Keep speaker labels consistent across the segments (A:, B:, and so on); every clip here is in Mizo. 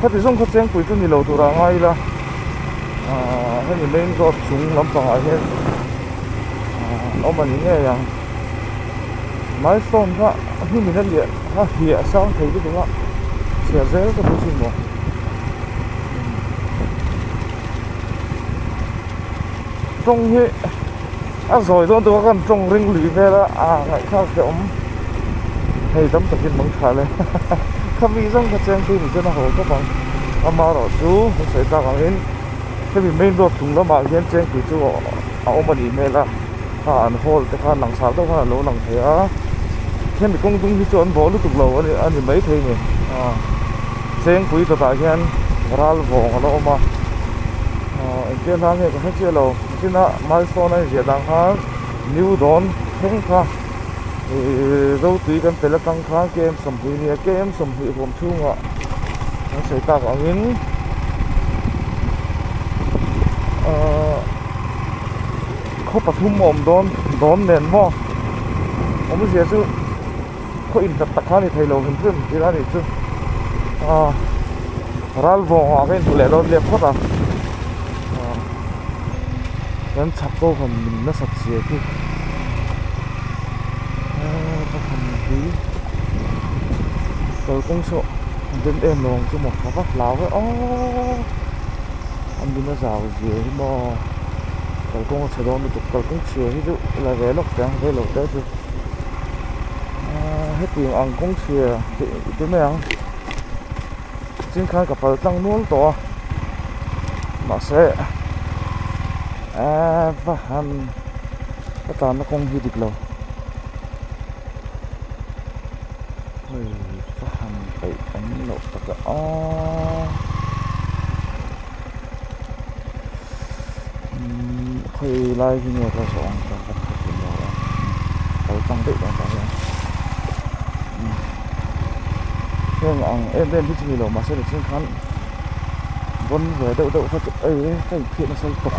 A: khati zawng kha chengpui chu ni lo turah anga ila aaa hemi main road chung lampangah hian aaa awm a ni ngei ang milestone kha hnim in a liah a hliah sang thei lutuk a chhia zel ka hmu chu ni maw tawng hi. A zawi dawn taka kan tawng ring lui vel a, aa ngaihthlak te awm hei tam takin mang tha le khami zawng kha cheng phei ni chuan a haw khawp ang, ama erawh chu ka sawi tak ang in hemi main road chung lamah hian cheng phei chu a awm a nih hmel a, a an haul te khan langsar deuh khan alo lang thei a, hemi kawng dung hi chu an bawh lutuk lo a ni mai thei ni aa, chengpui tatah hian ralvawng alo awm a, aa engtiang hla nge ka hre chiah lo. China Milestone a inziah dan khan New Dawn thleng kha ihh zo tui kan pel atang khan KM sawmhnih nia KM sawmhnih huam chhungah kan sawi tak angin ahh khaw pathum a awm dawn dawn nen maw awmzia chu-- khaw in tak tak kha a ni thei lo hlim hlim ila anih chu aaa ral vawng ah ka in hmu leh dawn liam khawt a aaa kan chhak kho han min nasat si âwm hi aaa ka han ti kalkawng saw a dum em lo ang chu maw ka va hlau e aww a min a zau zia hi maw kalkawng a chhe dawn lutuk kalkawng chhia hi chu la ve lawk chiang vei lo te chu. aaa heti ang ang kawng chhia tih te mai ang ching khan ka pal tlang nual tawh a mahse aaa va han va tlan na kawng hi dik lo hei va han peih awm loh takah aaa. khawi lai hi nge ka zawh ang chuan ka thawk thin lo a ka lo chang deuh dawn tah hian heng ang em em hi chu nilo mahse ni chung khan vawn ve deuh deuh kha chu ei ka inphihna sawltawk.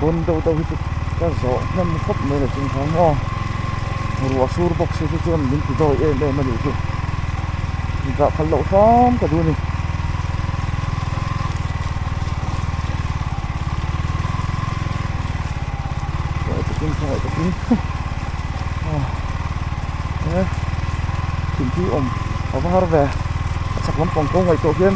A: bun deuh deuh hi chu ka zawh hnem khawp mai lo chung khan aw ruah sur bawk si chu chuan min ti dawi em em a nih chu min zah khalh loh hram ka duh a ni ngaih takin thlangaih takin aw he thingpui awm a var ve a chhak lampang ko ngaih tawh hian.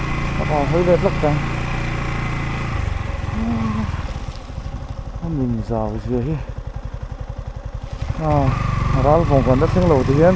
A: ka va hawi ve hlawk chuan a min zau zia hi ral vawng kan hrethleng lo te hian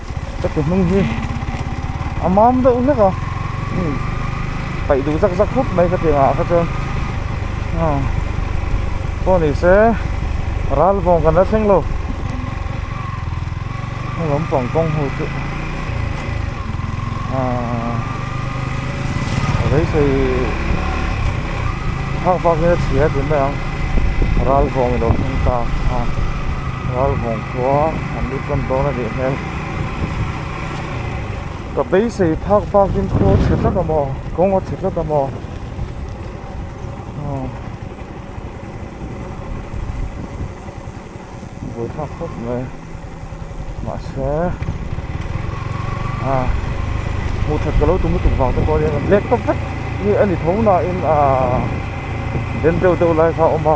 A: Chatu hnung hi a mam deuh hlek a hei paih duh zak zak khawp mai ka tih ngah kha chuan aw pawh ni se ral vawng kan la thleng lo heng lawm pawng kawng ho chu aaa rei sawi phak phak in a chhia tih mai ang ral vawng ilo thleng ta a ral vawng. Khua an ni tlawn dawn a nih hmel. Ka beisei phak bakin khaw a chhe tlat a maw, kawng a chhe tlat a maw. Aw. Buai thlak khawp mai. Mahse. Aw. Hmuh that ka lo tum lutuk vang te pawh a ni a, black tawp vek nge a ni tho nain aah den deuh deuh lai kha a awm a.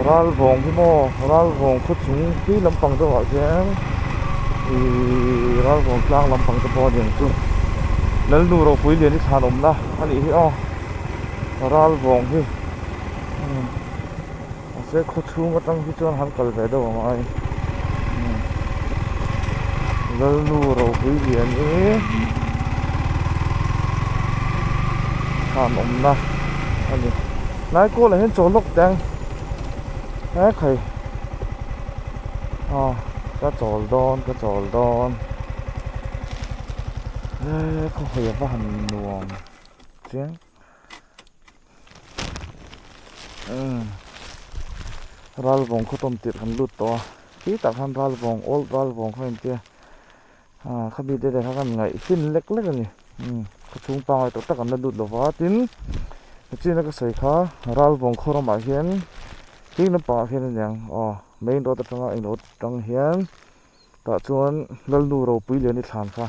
A: Ralvawng hi maw Ralvawng khawchhung khi lampang deuhah khian ihh Ralvawng tlang lampang te pawh a ni ang chu Lalnu Ropuilian i chhan awmna a nih hi aw Ralvawng hi umm mahse khawchhung atang hi chuan han kal ve deuh ang ai umm Lalnu Ropuilian i chhan awmna a ni. hnai kawlah hian chaw lawk te ang he khai aw ka chawl dawn ka chawl dawn he khawhawi a va han nuam chiang um ral vawng khawtawm tirh han lut tawh a khi tak khan ral vawng old ral vawng kha intia. Aa khabi te leh kha khan ngaih hrin lek lek a ni umm khaw chhung pangngai tawh tak an la lut lova tin he chin a ka sawi kha ral vawng khaw ramah hian hlui lampang ah khian a niang aw main road atanga a in awt atang hian tah chuan lalnu ropui leh a ni thlan kha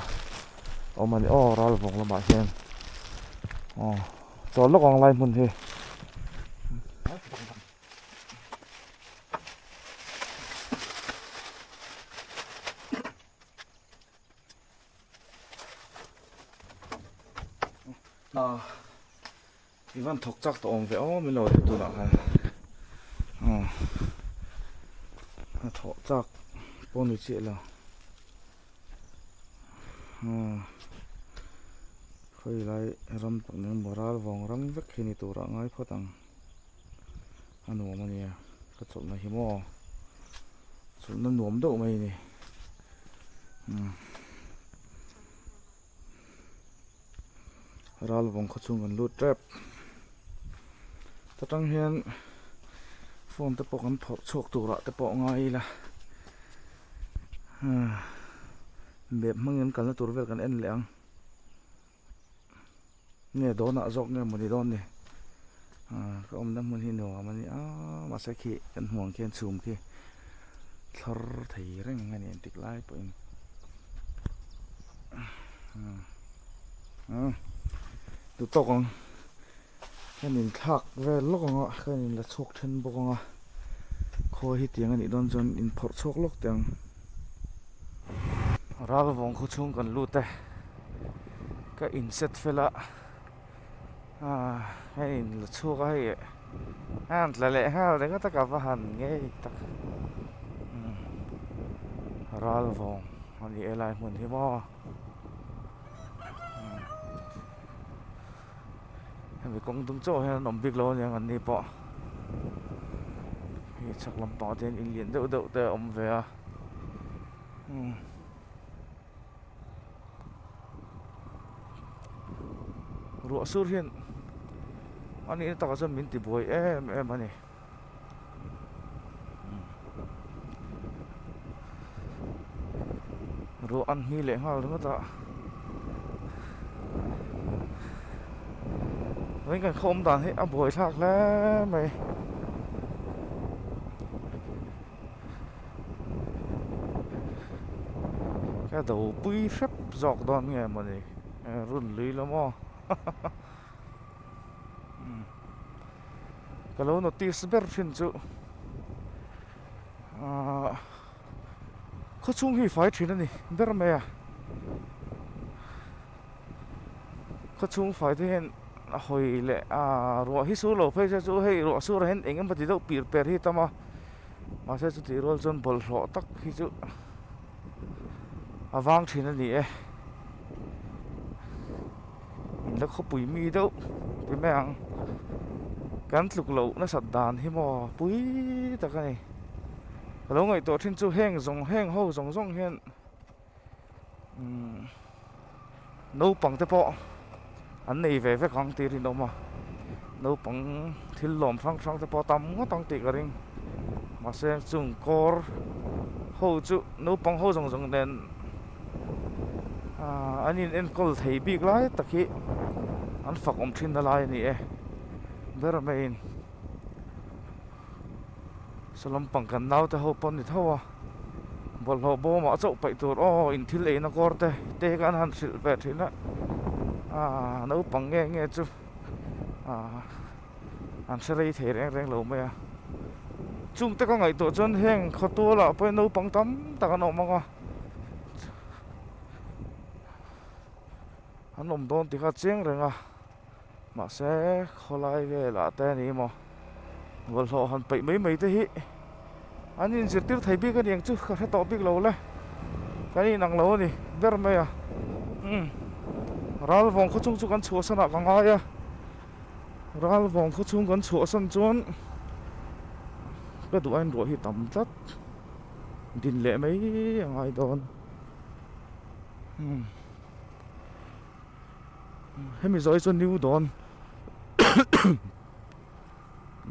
A: awm a ni aw ral vawng lamah hian aw chawr lawk ang lai hmun hi Ah, Ivan thok chak ta om ve o mi lo tu na khan. Ah. Thok chak pon ni che la. Ah. Khoi lai ram tak ning moral vong ram vek khi ni tura ngai phawt ang. A nuam a nia ka chawlhna hi maw chawlhna nuam deuh mai a ni umm ral vawng khaw chu kan lut tep hetang hian phone te pawh kan phawrh chhuak turah te pawh ngai ila bep hmangin kalna tur vel kan en leh ang. nge dawnah zawk nge mawni dawn ni ah, ka awmna hmun hi nuam a ni a mahse khi kan hmuang khian chhum khi thlor thei reng a ni entik lai pawhin ah, ah. tu tawk ang Kan in thlak vel lawk ang a, kan in la chhuak then bawk ang a, khawi hi tiang a nih dawn chuan in phawrh chhuak lawk teh ang. Ral vawng khaw chhung kan lut e, ka in set fel a, ah kan in la chhuak a hei e, a an tla leh nghal reng a tak a va han ngei tak, umm ral vawng a nih e lai hmun hi maw. hemi kawng dum chauh hian an awm bik lo aniang anni pawh hei chhak lampang ah te hian in lian deuh deuh te a awm ve a umm ruah sur hian a nihna takah chuan min tibuai em em a ni. Ruah an hmi leh nghal ringawt a, veng kan khawm dan hi a buaithlak hle mai. Kha do pui hrep zawk dawn nge mawni, run lui la maw? ka lo notice ber thin chu ahh khawchhung hi fai thin a ni ber mai a khawchhung fai te hian a hawi leh ahh ruah hi sur lo phei se chu hei ruah surah hian eng emaw ti deuh pirh per hi a tam a mahse chutih rual chuan bawlhhlawh tak hi chu-- a vang thin a ni e in la khawpui mi deuh ti mai ang kan tluk loh nasat dan hi maw pui tak a ni a lo ngaihtuah thin chu heng zawng heng ho zawng zawng hian umm Naupang te pawh an nei ve vek ang tih rinawm a, naupang thil lawm hrang hrang te pawh tam ngawt ang tih ka ring. Mahse chung kawr ho chu naupang ho zawng zawng nen aaa an in enkawl thei bik lai tak hi an fak awm thin na lai a ni e. Ber maiin saw lampang kan naute ho pawh a ni tho a. bawlhhlawh bawmah chauh paih tur aw in thil eina kawr te te hi kha an han hrilh ve thin a aaa naupang nge nge chu aaa an hre rei thei reng reng lo mai a chung te ka ngaih tawh chuan heng khaw tual ah pawhin naupang tam tak an awm ang a an awm dawn ti kha chiang reng a. Mahse khawlai velah te ni maw bawlhhlawh han peih mai mai te hi an in zirtir thei bik aniang chu ka hre tawh bik lo le kan inang lo ani ber mai a umm ral vawng khaw chung chu kan chhuah sanah ka ngai a ral vawng khaw chung kan chhuah san chuan ka duh ain ruah hi tam tlat din leh mai a ngai dawn umm hemi zawhi chu new dawn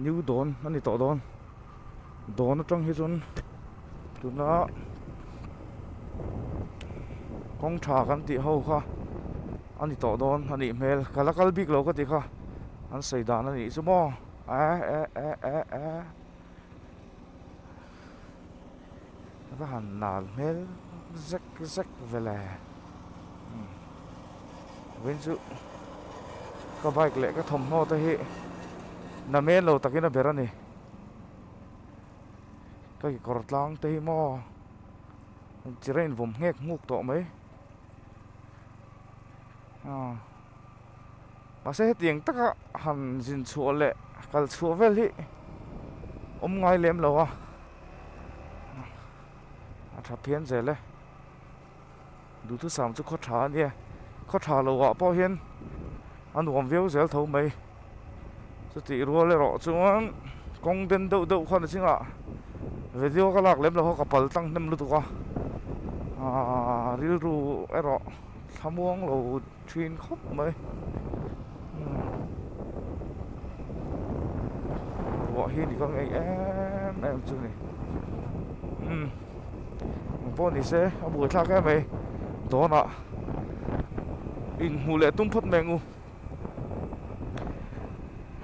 A: new dawn a ni tawh dawn dawn atang hi chuan tuna kawngṭha kan tih ho kha a ni tawh dawn a nih hmel ka la kal bik lo ka ti kha an sawi dan a nih chu maw eh eh eh eh eh. va han nal hmel zek zek vele vawin chu ka bike leh ka thawmhnaw te hi na men lo takin a ber a ni ka kekawr tlang te hi maw chi rain vawm nghek nghuk tawh mai ah. Mahse hetiang taka han zin chhuah leh kal chhuah vel hi awm ngai lem lo a, a tha phian zel e. Duhthusam chu khaw tha a nia, khaw tha lohah pawh hian a nuam viau zel tho mai. Chutih rual erawh chuan kawng den deuh deuh khan a ching a, video ka lak lem lo ho ka pal tlang hnem lutuk a, rilru erawh thlamuang lo. ṭhin khawp mai umm ruah hi ni ka ngei em em chu ni umm eng pawh ni se a buaithlak em mai dawnah inhmuh leh tum phawt mai ang u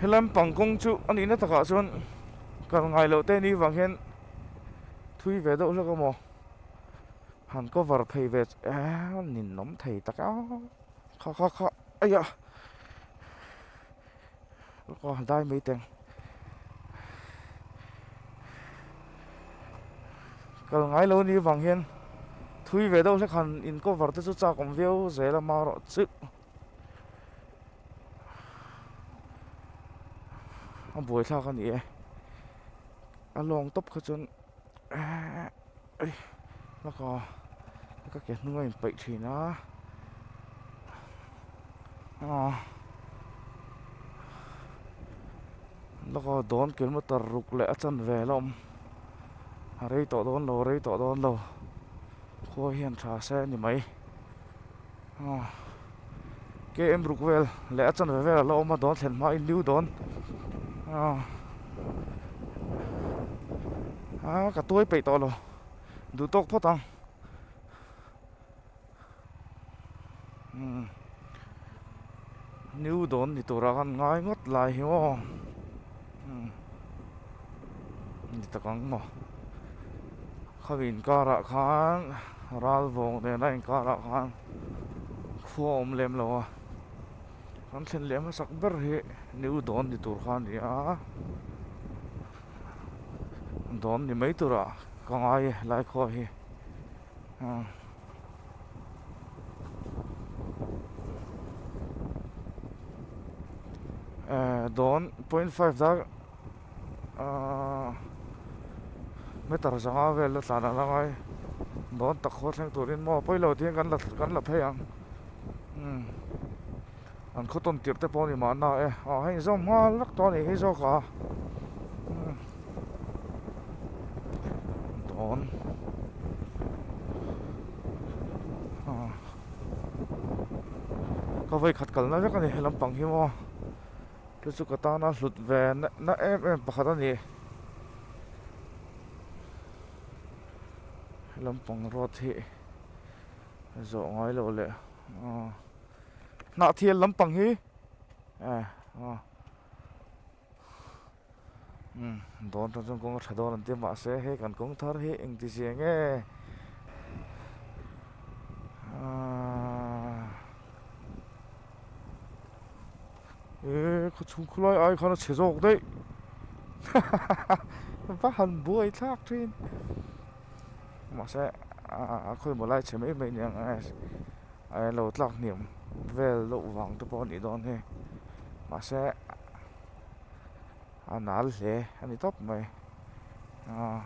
A: helai am pang kawng chu a nihna takah chuan kal ngailoh te ni vang hian thui ve deuh hlek a maw. han cover phei ve che eee ninawm thei tak a kha kha kha aiya ruko a dai maiteng kal ngai lo ni avang hian thui ve deuh hle khan in cover te chu chak awm viau zel a mar awh chilh a buai thlak a ni e a lawng tawp kha chuan. Eehh ei laka ka ke hnung a in paih thin a aw laka dawn kil maw tar ruk leh a chanvel a awm a rei tawh dawn lo rei tawh dawn lo khua hian tha se a ni mai. KM ruk vel leh a chanve vel ala awm a dawn thlen hma inlu dawn aa ka tuai peih tawh lo duh tawk phawt ang inlu dawn ni tur ah khan ngai ngawt lai hi maw ni tak ang maw. Khaw inkarah khan ral vawng nena inkarah khan khua a awm lem lo a, kan thlen leh hmasak ber hi niu dawn ni tur kha a ni a, dawn ni mai turah ka ngai e lai khuaah hi umm. Dawn point five dark. Aaa meter zanga vel la tlan ang angai dawn tak khaw thleng turin maw pawi lo tiin kan la kan la phei ang umm an khaw tawn tirh te pawh ani mahna e aw hei inzawm nghal rak tawh anih hi zawk a umm dawn aaa ka vawi khat kalna vek ani helampang hi maw. Te chu ka tan a hlut ve na em em pakhat a ni. Helam pang road hi zawh ngai lo le ah hnah thial lam pang hi eh ah um dawn tan chuan kawng a tha dawn an tia mah se hei kan kawng thar hi engti chiang e ah. Ehh khaw chhung khawlai ai khan a chhe zawk daih hahaha va han buai thlak thin mahse a khawi maw lai chhe mai mai nia a lo tlak hniam vel loh vang te pawh a nih dawn heng mahse. A nal hle a ni tawp mai aw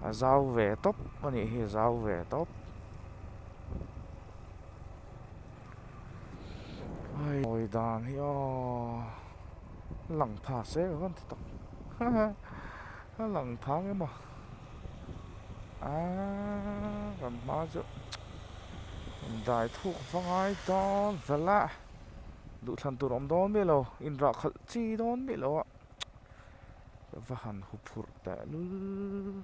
A: a zau ve tawp a nih hi a zau ve tawp ai awi dan hi aw lang pha se ka vawn ti tawp. A lang thang em a aaa kan hma chu in dai thuk hmangai dawn zel a duhthlan tur awm dawn miah lo in rah khalh chi dawn miah lo a ka va han hu phurh tehlul.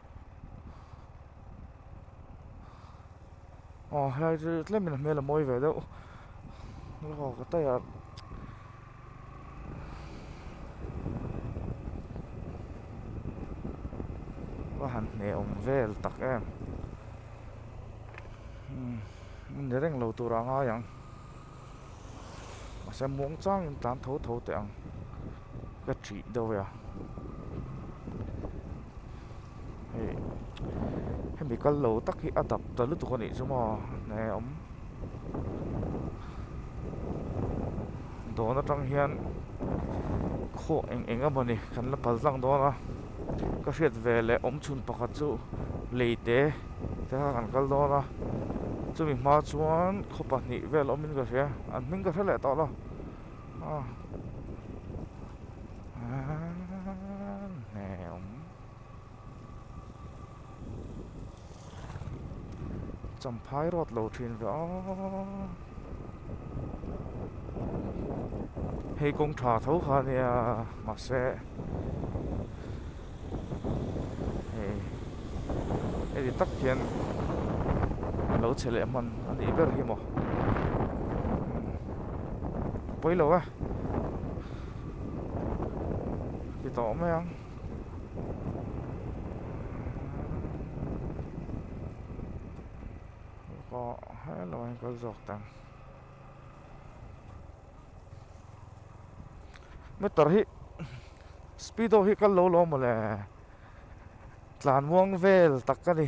A: aw helai chu tlem inah hmel a mawi ve deuh aw ka taiah va han hnehawm vel tak em umm ni reng lo tur anga ang. Mahse muang chang in tlan tho tho teh ang ka ṭhih deuh e a. Hei hemi kal lo tak hi a dap ta lutuk a nih chu maw hne a awm. Dawn aṭang hian khaw eng eng emaw ni kan la kal tlang dawn a. ka hriat ve leh awmchhun pakhat chu leite te kha kan kal dawn a chumi hma chuan khaw pahnih vel awmin ka hria an hming ka hre leh tawh lo ah eeemm hnemm. Champhai rawt lo thin ve a. Hei kawng tha tho kha a nia mahse hei hei ri tak hian a lo chhe leh hman a nih ber hi maw a pawi lo a ti tawh mai ang. pawh hello a inkal zawk ta meter hi speedo hi kal lo lawm mawle tlan muang vel tak a ni.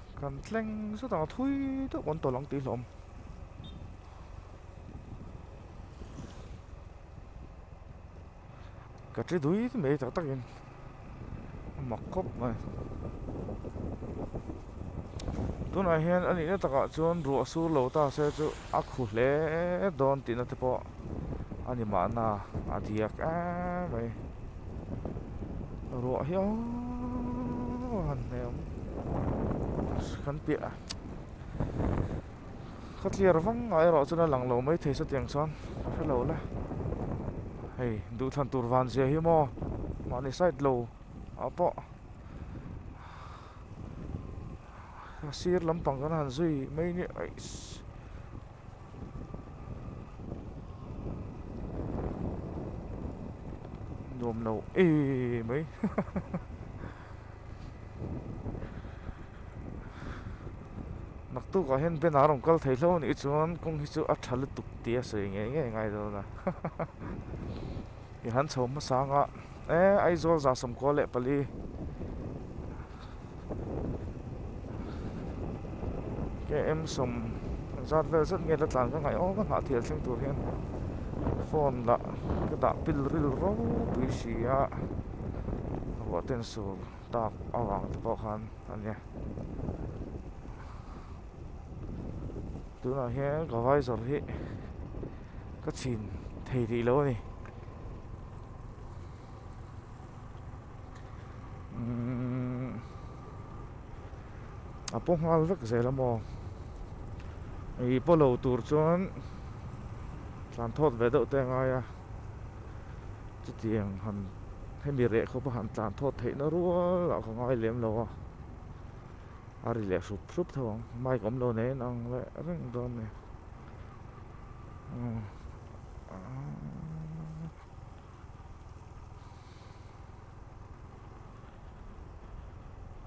A: Kan tleng zut ang a thui deuh kan tawlh ang tih hlawm. Ka tli dui mai tak tak in. Mak khawp mai. Tunah hian a nihna takah chuan ruah sur lo ta se chu a khu hle dawn tihna te pawh. a ni mahna a diak emm mai ruah hiau han hnehawm kan piah a kha tliar vang ah erawh chuan a lang lo mai thei sa tiang chuan ka hre lo la hei duhthlan tur van zia hi maw mahni side lo ah pawh a sir lampang kan han zui mai nge eish. nuam lo êêê mai hahaha mak tûk ah hian banner a rawn kal thei hlo a nih chuan kawng hi chu a ṭha lutuk tih a sawi ngei ngei a ngai dâwn a hahaha. I han chho hmasa ang a. Eh, Aizawl za sawm kual leh pali. KM sawm zat vel zet nge la tlan ka ngaih awm a hnah thial thleng tur hian phone lah ka dah pil ril ro pui si a ka ruahten sur tak avang te pawh khan a nia tunah hian ka vaizawr hi ka chhin thei rih lo a ni umm a pawh nghal vek zel a maw ih pawh lo tur chuan tlan thawt ve deuh te a ngai a chutiang han hemi reh khawpa han tlan thawt theih na rual a ka ngai lem lo a a rileh hrup hrup tho ang mic awm lo nen ang leh reng dawn a ni.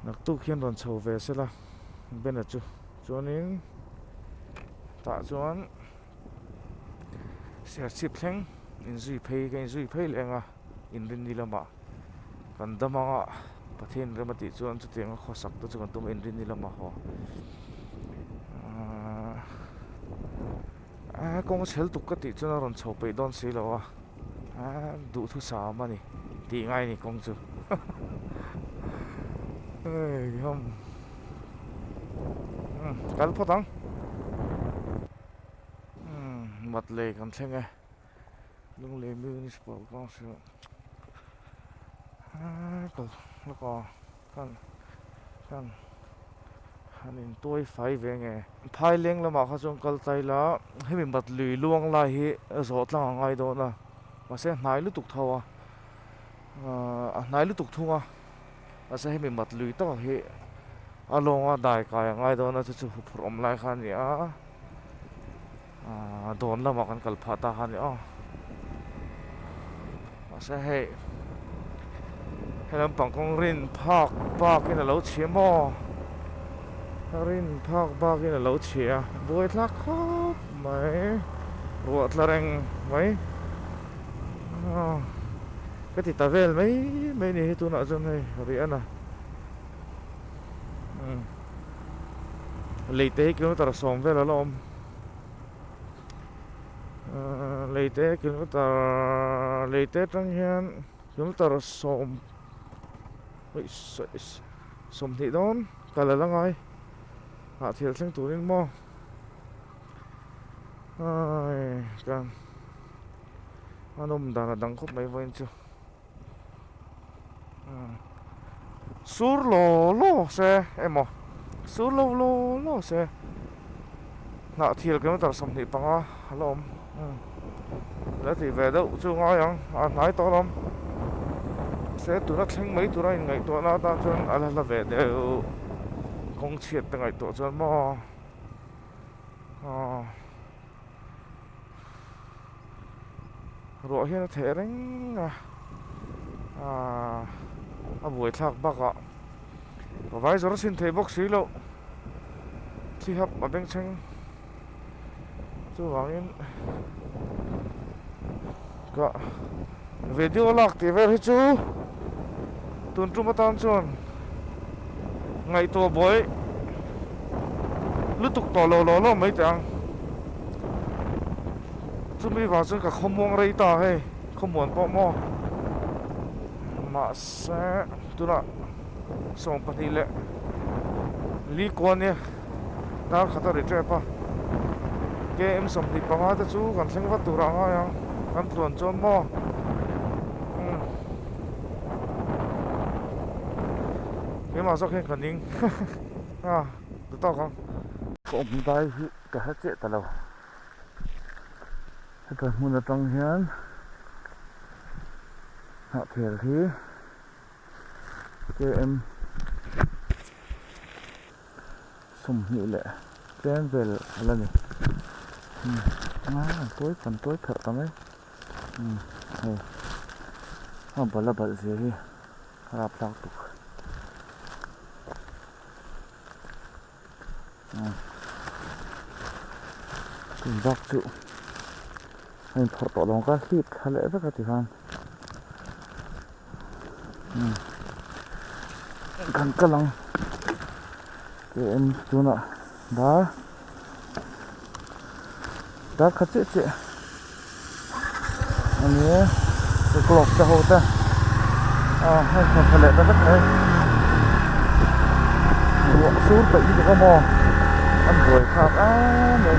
A: naktuk hian rawn chho ve se la banner chu chuanin tah chuan serchhip thleng in zui phei ka in zui phei leh ang a. Inrinni lamah kan dam ang a, Pathianin rem a tih chuan chuti anga khawsak te chu kan tum a, Inrinni lamah haw Aaa kawng a chhel tuk ka tih chuan a rawn chho peih dawn si lo a, Aaa duhthusam a ni tih ngai ni kawng chu Hei hum Kal phawt ang Mat lei kan thleng e. Lunglei Municipal Council ah kal lawka khan khan han in tuai fai ve nge Thaileng lamah kha chuan kal tlai la hemi Matlui luang lai hi zawh tlang a ngai dawn a mahse hnai lutuk tho a a hnai lutuk thung a mahse hemi Matlui takah hi a lawnga dai kai a ngai dawn a chu chu huphurh awm lai kha a ni a. Ahh dawn lamah kan kal phah ta kha ni aw mahse hei helampang kawng rin phak bakin a lo chhia maw rin phak bakin a lo chhia a buai thlak khawp mai ruah tla reng mai ahh ka ti ta vel mai mai a ni hei tunah chuan hei riahna umm leite hi kilometer sawm vel a la awm. leite kilometer leite atang hian kilometer sawm awih sawi sawm hnih dawn ka la la ngai hah thial thleng turin maw ai kan an awm dan a dang khawp mai vawiin chu. Sur law law se emaw sur law law law se hnah thil kilometre sawmhnih panga a la awm leh tih ve deuh chu a ngai ang a hnai tawh a la awm se tuna thleng mai tura inngaihtuah na atan chuan a la hla ve deuh kawng chhiat te ngaihtuah chuan maw aw. ruah hian a theh reng a a buai thlak bakah a vai zawrh a sin theih bawk si lo thi hap a beng chheng chuvangin ka. Video lak tih vel hi chu tun tum atan chuan ngaihtuah buai lutuk tawh lo lo lo mai teh ang. Chumi vang chuan ka khawmuang rei ta hei khawmuan pawh maw. Mahse tunah sawmpahnih leh Lee Kuan Yew. Tarkhata ri tep a, KM sawmhnih panga te chu kan thleng vat turah a ngai ang, kan tluan chuan maw? Umm. Keimah zawk hian ka ning a duh tawk ang. Ka awm dai hi ka hre chiah ta lo. Heta hmun atang hian hnahkhel hi KM. sawmhnih leh tlem vel la ni umm aa an tuai an tuai tharh ta mai umm hei a bal a balh zia hi a rap tlak tuk umm chung bak chu a in phawrh tawh dawn ka hlip thla leh vek a tikhan. kan kal ang km tunah dar dar kha chiah chiah a ni a chu clock te ho te a hei chawlhpha leh ta vek mai ruah sur paih hi ka zawm aw an buai khak a mai.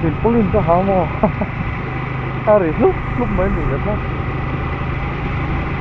A: silpaulin ka ha maw a ri hlup hlup mai a nih leh kha.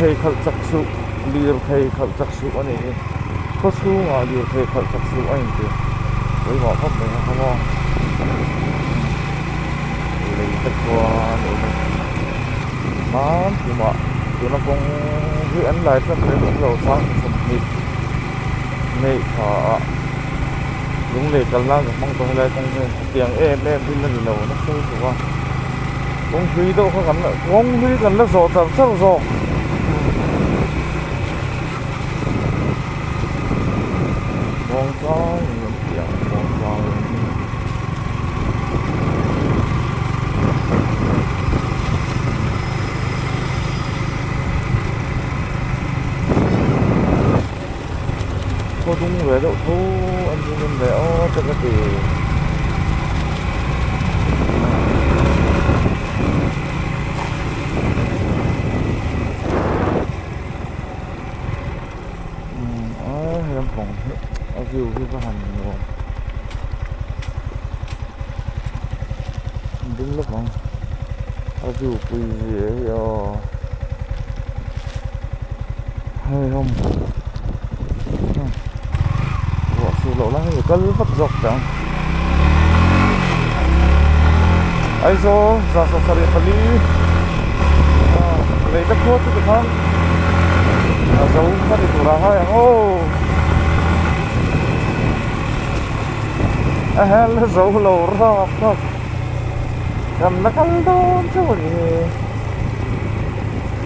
A: phei khalh chak suh lirthei khalh chak suh a nih hi khawchhungah lirthei khalh chak suh a intir pawimawh khawp mai a ang aw lei te khuan awm in hman tlumah tuna kawng hi an lai tlat leh hlawm lo sang chi thawmhnih hmeih tha ah lungleih kal nan ka hmang tawng lai kawng hi. Tiang em em hi na ni lo na sawi tawh a, kawng hlui deuh kha kan la kawng hlui kan la zawh char char zawk. Kawng tlang in an tih ang, kawng tlang in. khaw dung ve deuh tho a ni ngawm ve a ka va ti a view hi va han nuam ding lawk ang a view pui zia hi aww. hei rawng hnung ruah sur loh lai hi kal vat zawk chang Aizawl zasawk sarih pali lei te khuar chu ti khan a zo kha ni tur ah hian ho a hel a zo lo rap rap kan la kal dawn chauh a ni e.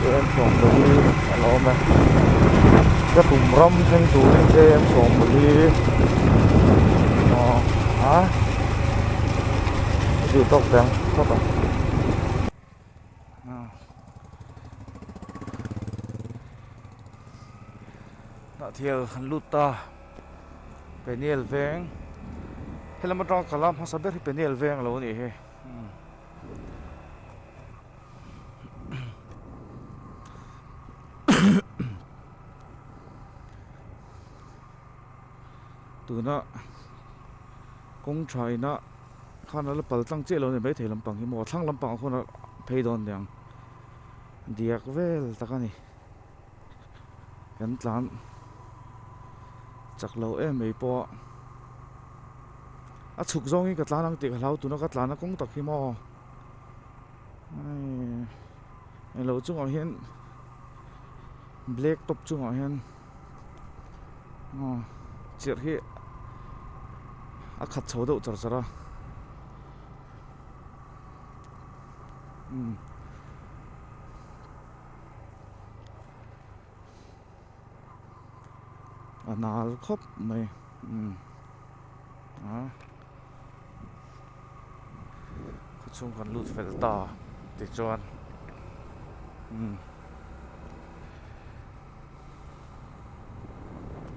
A: te en chawhpawlh hi a la awm e ka tum ram thleng turin te en chawhpawlh hi aw a ka tih tawk ve ang chawt ang aw hnah thial an lut ta penial veng helama tang kal a hmasa ber hi penial veng lo anih hi. tuna kawng tha ina khan ala pal tlang chiah lo nen mai thei lampang hi maw thlang lampang ah khawn a phei dawn nia ang diak vel tak a ni kan tlan chak lo em mai pawh a a chhuk zawngin ka tlan ang tih ka hlau tuna ka tlan a kawng tak hi maw. englo chungah hian black top chungah hian aw chirh hi a khat chho deuh char char a umm. a nal khawp mai umm aah khawchhung kan lut fel ta tichuan umm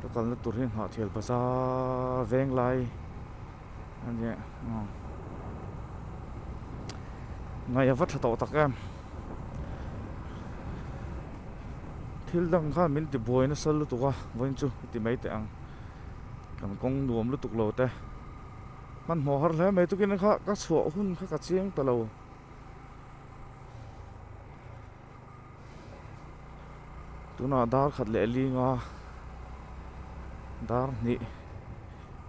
A: ka kalna tur hi Nghahthial bazaar venglai a nia umm ngaihava tha tawh tak em. thil dang khan min ti buai nasa lutuk a vawiin chu ti mai teh ang kan kawng nuam lutuk lo te hmanhmawh har hle mai tukin kha ka chhuah hun kha ka chiang ta lo tunah darkhat leh linga dar hnih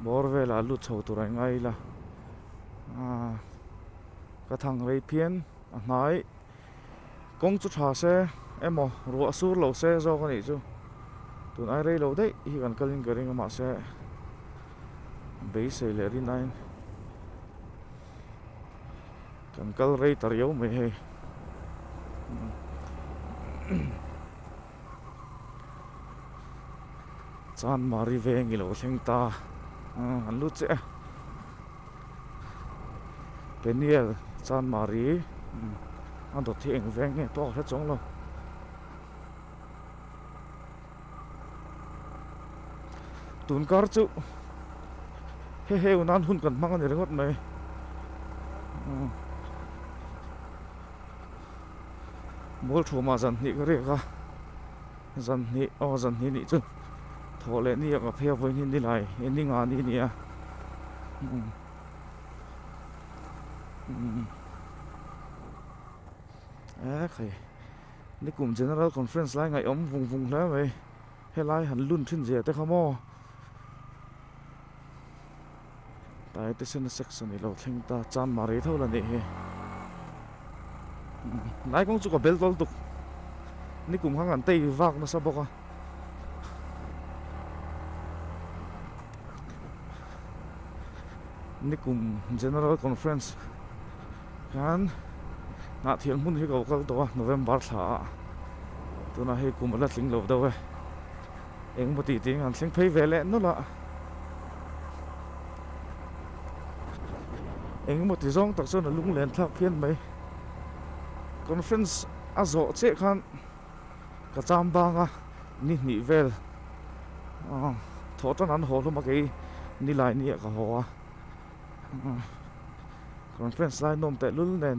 A: bawr velah lut chho tur a ingai ila ka thang rei phian. A hnai kawng chu tha se emaw ruah a sur lo se zawk a nih chu tun ai rei lo daih hi kan kalin ka ring a mahse beisei leh rin aiin kan kal rei ta riau mai hei. Chuan Mari veng i lo thleng ta a, an lut che a. Peniel, Chuan Mari, a dawt hi eng veng nge tawk a hre chawng lo. Tun kar chu, He he u nan hun kan hmang a ni ringawt mai. ball thu mah zan hnih ka rek a zan hnih aw zan hnih nih chu thawh leh ni a ka phei a vawiin hi ni lai e ni nga ni nia ekhei ni kum general conference lai ngaih awm vung vung hle mai helai han lun thin zia te kha maw Tyre te sen a sex a nih lo thleng ta chan mah rei tho la nih hi Nai kawng chu ka bel tawltuk Ni kum khan kan tei vak nasa bawk a Ni kum General Conference khan Hnah thian hmun hi ka kal tawh a November thla a Tunah hei kum ala tling lo deuh e eng maw tih ting an thleng phei ve leh nawlh a, eng maw ti zawng tak chuan a lung len thlak phian mai, conference a zawh chiah khan ka cham bang a, ni hnih vel aw thaw tan an haw hlawm a kei ni lai ni ah ka haw a, conference lai nawm tehlul nen.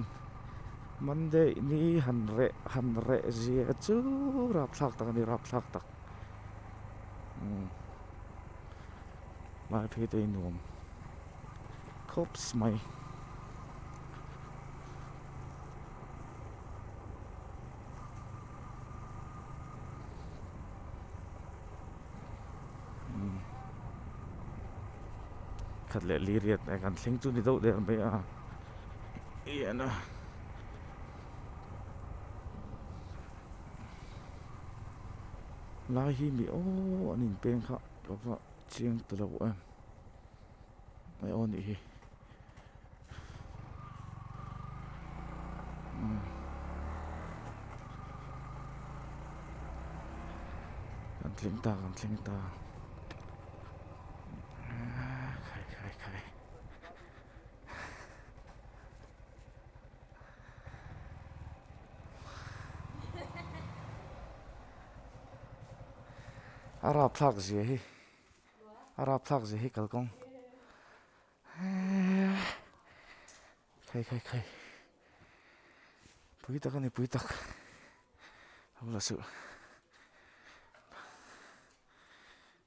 A: Monday ni han reh han reh zia chu rapthlak tak ani rapthlak tak umm hmai phei te in nuam khawps mai umm khat leh li riat kan thleng chu ni deuh der mai a. iana lai hi mi o an in peng kha ka va chiang ta lo em mai o ni hi kan tling ta kan tling ta khai khai khai a rap thlak zia hi a rap thlak zia hi kalkawng khai khai khai pui tak ani pui tak hula suh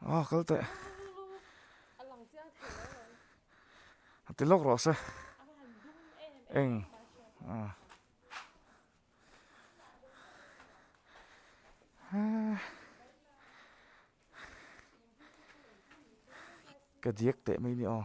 A: Aw kal teh a ti lawk rawh se eng ah ha ka diak teh mai ni aw.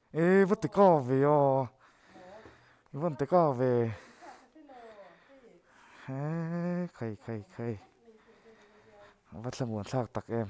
A: E va ti ka ve a i van ti ka ve he khai khai khai va thlamuan thlak tak em